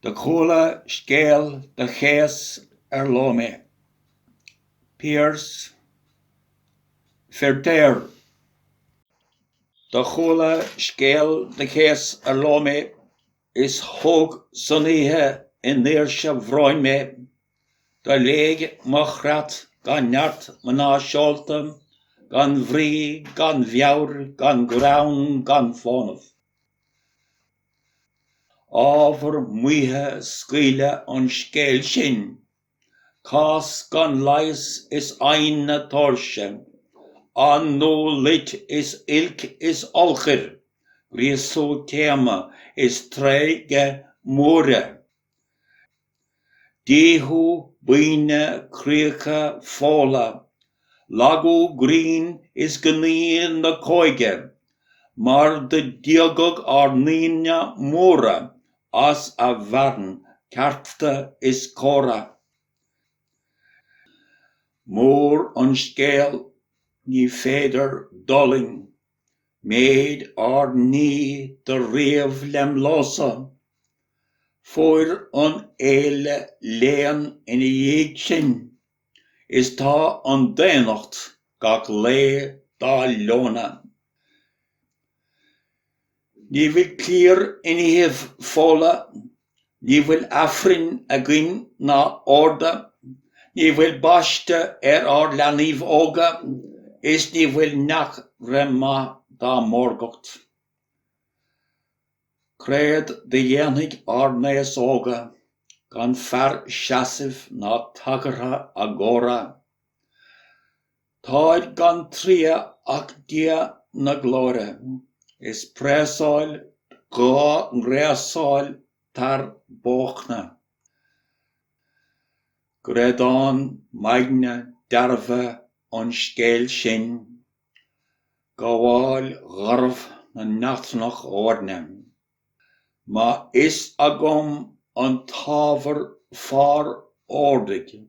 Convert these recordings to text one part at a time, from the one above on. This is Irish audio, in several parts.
Do chuala scéal do chéas ar ló mé. Piaras Feiritéar. Do chuala scéal do chéas ar ló mé is thóg san oíche i ndaoirse bhróin mé. Do léig mo chreat gan neart mná seolta gan bhrí gan mheabhair gan greann gan fónamh. Ábhar maoithe scaoileadh an scéil sin. Cás gan leigheas is adhnadh tóirse. Athnuadh loit is oilc is eolchair, gríosú teadhma is treighde móire. Díothú buíne críocha Fódla, lagú grinn is gnaoi na cóige mar do díogadh ár ndaoine móra as a bhfearann cearta is córa. Mór an scéal, ní féidir d'fhulaing. Méid ár ndíth do ríomh lem lása. Fuair an fhéile léan ina dhiaidh sin, Is tá an daonnacht gach lae dá leonadh. Ní bhfuil cliar in iathaibh Fódla Ní bhfuil Aifrinn againn ná orda, ní bhfuil baiste ar ár leanaíbh óga is ní bhfuil neach re maith dá mórgacht. Créad do dhéanfaidh ár n-aos óga gan fear seasaimh ná tagartha a gcóra? Táid gan triath ach Dia na glóire. Is preasáil dhá ngreasáil tar bóchna. Greadán m'aigne dearbhadh an scéil sin. Gabháil gharbh na n-eachtrannach oirne. Maith fhios agam an t-ábhar fár ordaigh.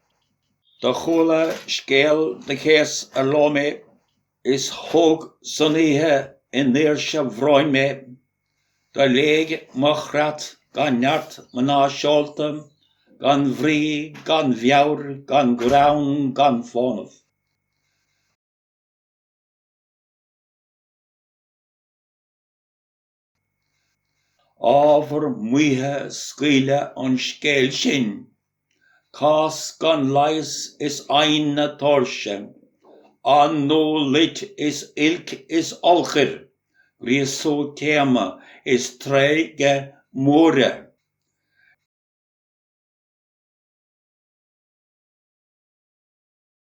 Do chuala scéal do chéas ar ló mé, Is thóg san oíche i ndaoirse bhróin mé, Do léig mo chreat gan neart mná seolta, Gan bhrí, gan mheabhair, gan ghreann, gan fónamh. Ábhar maoithe scaoileadh an scéal sin, cás gan leigheas is adhnadh tóirse, athnuadh loit is oilc is eolchair, gríosú teadhma is treighde móire.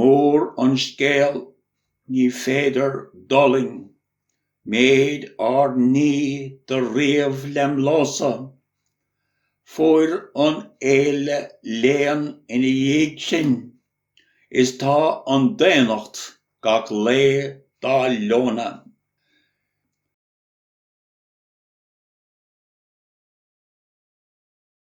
Mór an scéal, ní féidir d'fhulaing méid ár ndíth do ríomh lem ló-sa. Fuair an fhéile léan ina dhiaidh sin, is tá an daonnacht gach lae dá leonadh.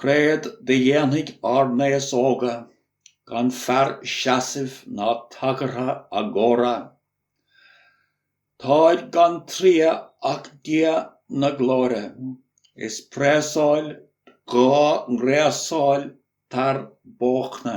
Créad do dhéanfaidh ár n-aos óga gan fear seasaimh ná tagartha a gcóra? Táid gan triath ach Dia na Glóire is preasáil dhá ngreasáil tar bóchna.